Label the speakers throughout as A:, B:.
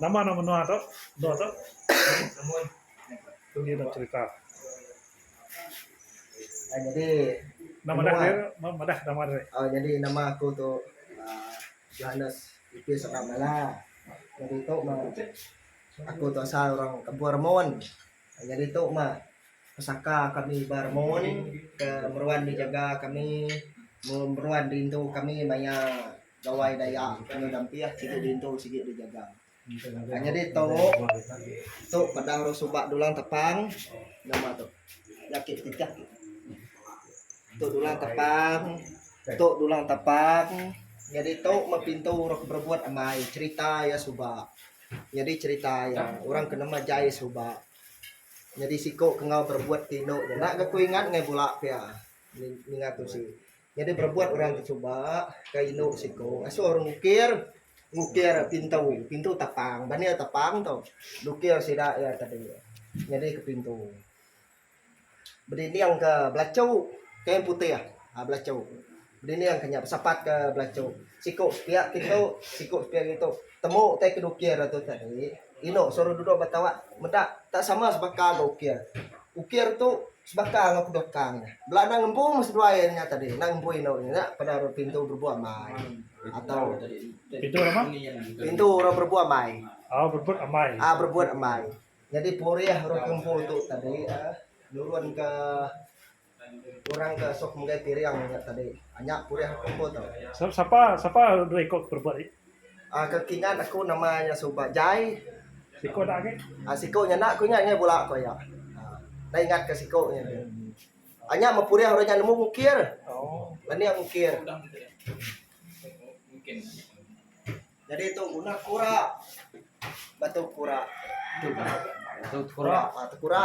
A: Nama nama menua tu? Menua tu? Tu dia cerita.
B: Ah, jadi nama dah
A: dia? Nama dah nama dia? Oh, jadi nama aku
B: tu uh, Johannes Ipis Abang Mala. Jadi tu mah aku tu asal orang Kampung Ramon. Ah, jadi tu mah pesaka kami ba Ramon ke meruan dijaga kami meruan rindu kami maya Gawai Dayak kena dampih sigi diintu sigi dijaga. Nyadi tu tu padang orang suba dulang tepang nama tu jaki titah tu. Tu dulang tepang tu dulang tepang nyadi tu meh pintu orang ke berebut amai cerita iya suba. Nyadi cerita iya orang ke nama Jai suba nyadi siku ke enggau berebut ti indu nya. Enda ga ku ingat ngai bula pia ninga tusi. Nyadi berebuat orang ti suba ka indu siku ngasuh orang ngukir, ngukir pintu, pintu tapang ba nia tapang tu dukir sida iya tadi nyadi ke pintu bedinding ke belachu kain putih um belachu bedinding ke nya besapat ke belachu siku sepia ke tu siku sepia ke tu. Temu utai ke dukir atu tadi, inu suruh duduk ba tawak meda tak sama sebaka enggau ukir. Ukir tu sebaka enggau kebelakang nya. Bela enda ngembu meh seduai iya nya tadi, enda ngembu inu iya nya pada ari pintu berebuk amai atau Pintu
A: nama? Pintu orang
B: berebuk amai. Oh, berebut amai.
A: Ah, berebut amai.
B: Nyadi purih orang ke ngembu tu tadi, nurunka Orang ke suka menggai piring nya tadi. Anya purih aku empu tu. Sapa sapa
A: dua iko ke perebut ih. Ah ke kingat
B: aku nama iya suba Jai. Siko
A: dak agi. Ah siko nya enda ku ingat
B: angai bula ko iya. Enda ingat ke siko nya agi. Anya meh purih orang nya nemu ngukir. Anih ngukir. Jadi tu guna kura. Batu kura. Batu kura. Batu kura.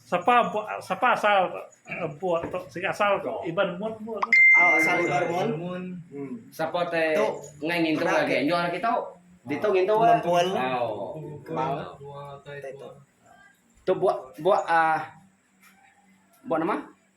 A: Sapa empu sapa asal empu tu sigi asal tu iban mun empu tu. Au asal
B: iban mun. Sapa te
C: engai ngintu ga agi anjung ari kitu. Ditu ngintu ga. Mempul. Au.
B: Kembang
C: tua tai tua. Tu buak buak ah buak nama.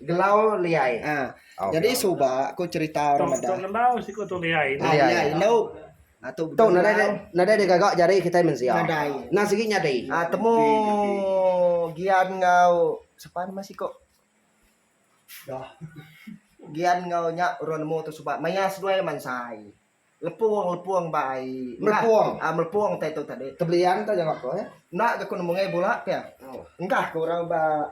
B: Gelau
C: Liai. Ha. Oh, Jadi okay. suba
B: aku cerita orang meda. Tok Gelau siku tu Liai.
A: Ah, Liai. Liai. Indu.
B: Ah, tu tu nadai dia,
C: nadai dia gagak jari kita mensia. Nadai. Nah sigi nyadi.
B: Ah,
C: temu
B: Gian ngau sepan nama siku. Dah. Gian ngau nya orang nemu tu suba maya seduai mansai. Lepung lepung bai. Melepung. Ah, melepung tai tu tadi. Tebelian tu jawab ko
C: eh. Nak aku nemu ngai
B: bola pia. Oh. Engkah ke orang ba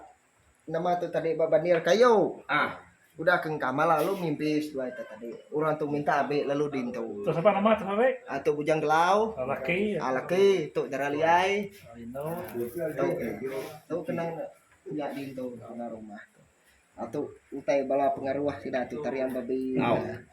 B: Nama tu tadi ba banir kayu. Ah. Udah ke engka ma lalu mimpi seduai ita tadi. Orang tu minta abi lalu dintu. Tu sapa nama tu ari?
A: Ah tu Bujang Gelau. Oh
B: laki. Ah laki tu Dara Liai. Oh inu. Tu eh. Tu kena nya dintu kena rumah tu. Ah tu utai bala pengaruh sida tu Tarian Babi. Au.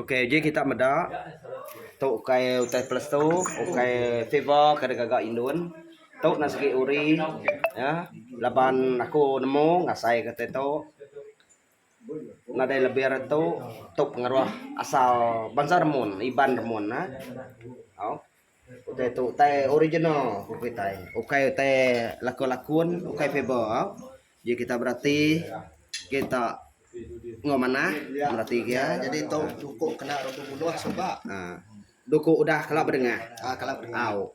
B: Ok
C: uji kita meda tu ukai utai pelestu ukai fever ke deka ga indun tu na segi uri ya laban aku nemu ngasai ke tai tu nadai lebih ari tu tu pengeroh asal bansa remun Iban remun na au. Utai tu utai original ku kitai. Ukai utai laku lakun, ukai fable au. Ji kita berati kita enggau manah berati gia. Jadi tu duku
B: kena rak bebunuh suba. Duku
C: udah kala bedengah au.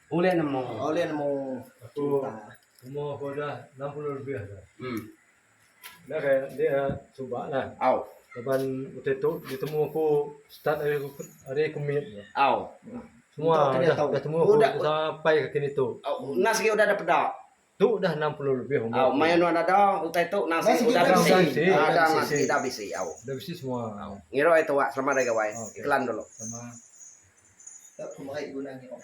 C: Ulih
B: nemu.
C: Ulih nemu
B: cerita.
D: Umur aku udah enam puluh lebih dah. Hmm. Dah kai enti dah
B: suba
D: lah. Au. Laban
C: utai
D: tu ditemu aku start ari aku ari aku mit nya. Au.
C: Semua
D: dah temu
B: aku sampai
C: kini tu.
D: Au. Enda sigi udah ada peda.
C: Tu udah enam
D: puluh lebih umur ku. Maya nuan ada
C: utai tu nang siti udah bisi. Ada nang siti
D: dah bisi.
C: Dah bisi semua.
D: Ngirup ai tuak
C: selamat hari gawai. Iklan dulu. Sama.
B: Dak pemeri guna
D: ngirup.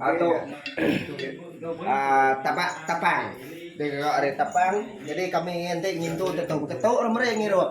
C: Atu tapak tapang. Dikerak ari tapang. Jadi kami enti
B: ngintu tentu beketu rak meri ngirup.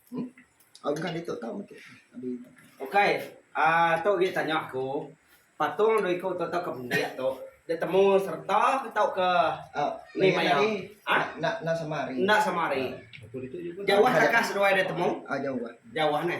D: Ukai
B: aaa
C: tu gik tanya aku patung dua iku tu tau ke pendik tu di temu serta tau ke ni maya
B: aa enda sama hari
D: jauh takah seduai di
C: temu jauh
B: neh.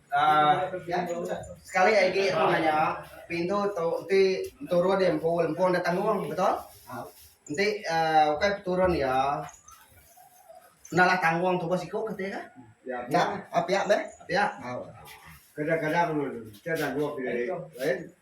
C: Sekali agi aku nanya, pintu tu enti turun iya empu, empu enda tanggung betul? Enti ukai peturun iya enda lah tanggung tubuh siku ke ti kah? Nya
B: pia meh, pia.
C: Kadang-kadang
E: enti tanggung.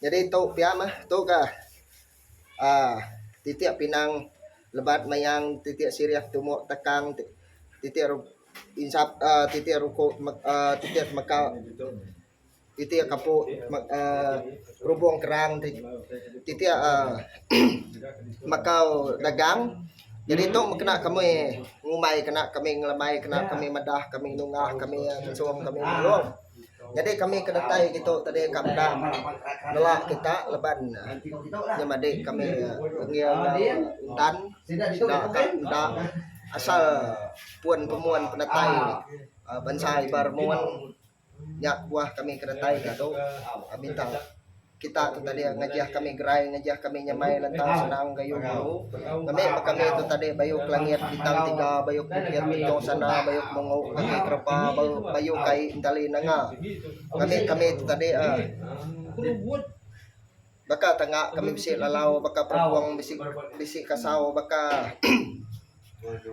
B: Nyadi tu pia mah tu ga aaa titik pinang lebat mayang titik sirih tumu takang titik ru insap aaa titik ruku aaa titik temeka titik kapu aaa rubung kerang ti titik aaa ehem makau dagang nyadi tu mah kena kami ngumbai kena kami ngelemai kena kami madah kami nungah kami ngusung kami nulung. Jadi kami ke datai ditu tadi ka Penang nela kita laban nyemadi kami ngil enggau Intan sida ka enda asal pun pemuan penatai uhh bansa Iban Remun nya buah kami ke datai diatu minta. Kita tu tadi ngajah kami gerai ngajah kami nyamai lantang senang gayu guru. Ngami ba kami tu tadi bayu ke langit bintang tiga bayu ke bukit benjong sana bayu ke mungu kaki kerepa bayu kai entali nanga. Ngami kami tu tadi ah baka tanga kami bisi lalau baka perengkong bisi bisi kasau baka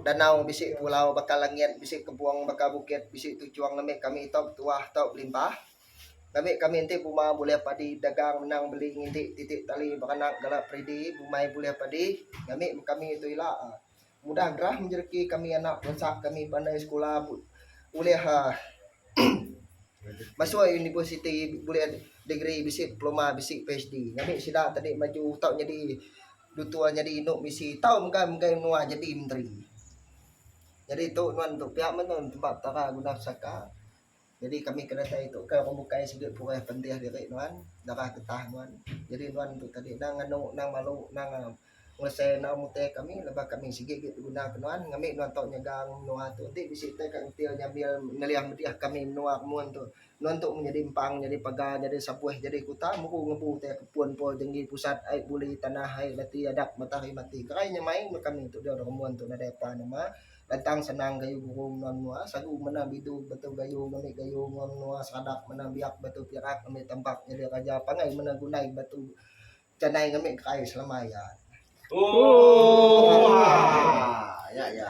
B: danau bisi pulau baka langit bisi kebong baka bukit bisi tuchong ngami kami tau betuah tau belimpah. Kami kami enti buma bulih padi dagang menang beli nginti titi tali beranak gala peridi bumai bulih padi ngami kami tu ila mudah gerah menjereki kami anak bansa kami pandai sekula ulih uhh masuk universiti bulih degree bisi diploma bisi PHD ngami sida tadi maju tau nyadi dutur nyadi inu misi tau menggai menggai menua jadi menteri. Jadi tu nuan tu pia meh nuan tempa petara guna pesaka. Jadi kami kena tau itu ka orang bukai sigi purih pentih diri nuan darah getah nuan jadi nuan tu tadi endang nganu endang malu endang ngelesai enggau mutih kami laban kami sigi agi beguna ke nuan ngami nuan tau nyaga menua tu enti bisi tai ka ngetil nyambil ngelih meriah kami menua mun tu nuan tu nyadi empang nyadi paga nyadi sapuih nyadi kuta mbu ngembu tai ke pun pun tinggi pusat ai buli tanah ai reti adat matahari mati gerai nyemai meh kami tu dio remun tu nadai pan uma. Lantang senang gayu guru menua menua sagu mena bidu betu gayu ngambi gayu menua menua sadap mena biak betu pirak ngambi tambak nyadi raja pangai mena gunai betu janai ngambi gerai selama iya. Ooh. Haa. Nya iya.